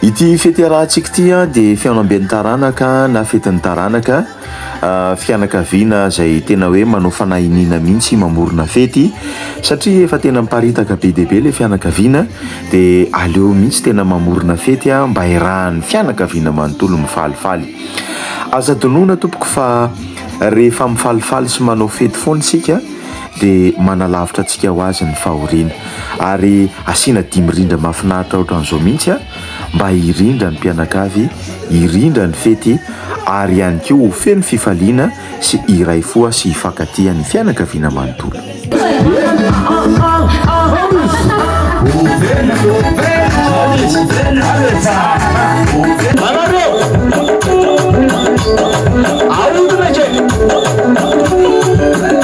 Ity fety iarahantsika ity dia fihaonamben'ny taranaka na fetin'ny taranaka, fianakaviana izay tena hoe manao fanahy iniana mihitsy mamorona fety satria efa tena miparitaka be dia be ilay fianakaviana dia aleo mihitsy tena mamorona fety mba hirahan'ny fianakaviana manontolo mifalifaly. Aza adinoina tompoko fa rehefa mifalifaly sy manao fety foana isika dia manalavitra antsika ho azy ny fahoriana. Ary asiana dimy rindra mahafinaritra ohatran'izao mihitsy a, mba hirindra ny mpianakavy, hirindra ny fety ary ihany koa ho feno fifaliana sy hiray fo sy hifankatia ny fianakaviana manontolo.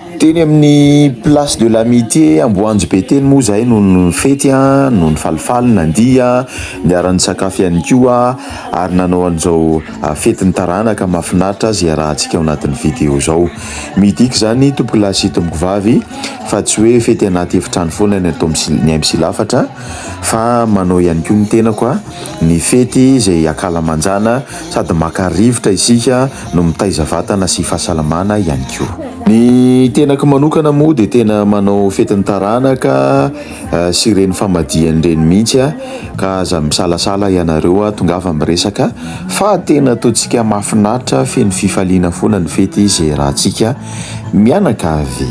Teny amin'ny Place de l'Amitié Amboanjobe teny moa izahay no nifety an, no nifalifaly, nandihy an, niara-nisakafo ihany koa ary nanao an'izao fetin'ny taranaka mahafinaritra azy iarahantsika ao anatin'ny video izao. Midika izany tompoko lahy sy tompoko vavy fa tsy hoe fety anaty efitrano foana ny atao ny ahy misilafatra fa manao ihany koa ny tenako ny fety izay ankalamanjana. Sady maka rivotra isika no mitaiza vatana sy fahasalamana ihany koa. Ny tenako manokana moa dia tena manao fetin'ny taranaka sy ireny famadihana ireny mihitsy a, ka aza misalasala ianareo a, tongava miresaka fa tena ataontsika mahafinaritra feno fifaliana foana ny fety ze raha tsika mianakavy.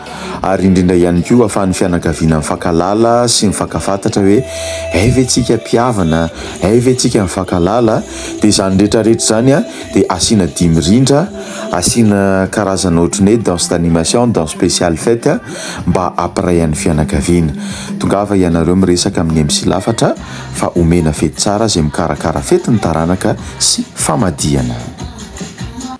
ary indrindra ihany koa ahafahan'ny fianakaviana mifankahalala sy mifankafantatra hoe hay ve tsika mpihavana, hay ve tsika mifankahalala, dia izany rehetra rehetra izany a dia asiana dihy mirindra, asiana karazana ohatry ny hoe danse d'animation, danse spéciale fête a, mba hampiray an'ny fianakaviana. Tongava ianareo miresaka amin'ny MC Lafatra fa omena fety tsara izay mikarakara fety ny taranaka sy famadihana.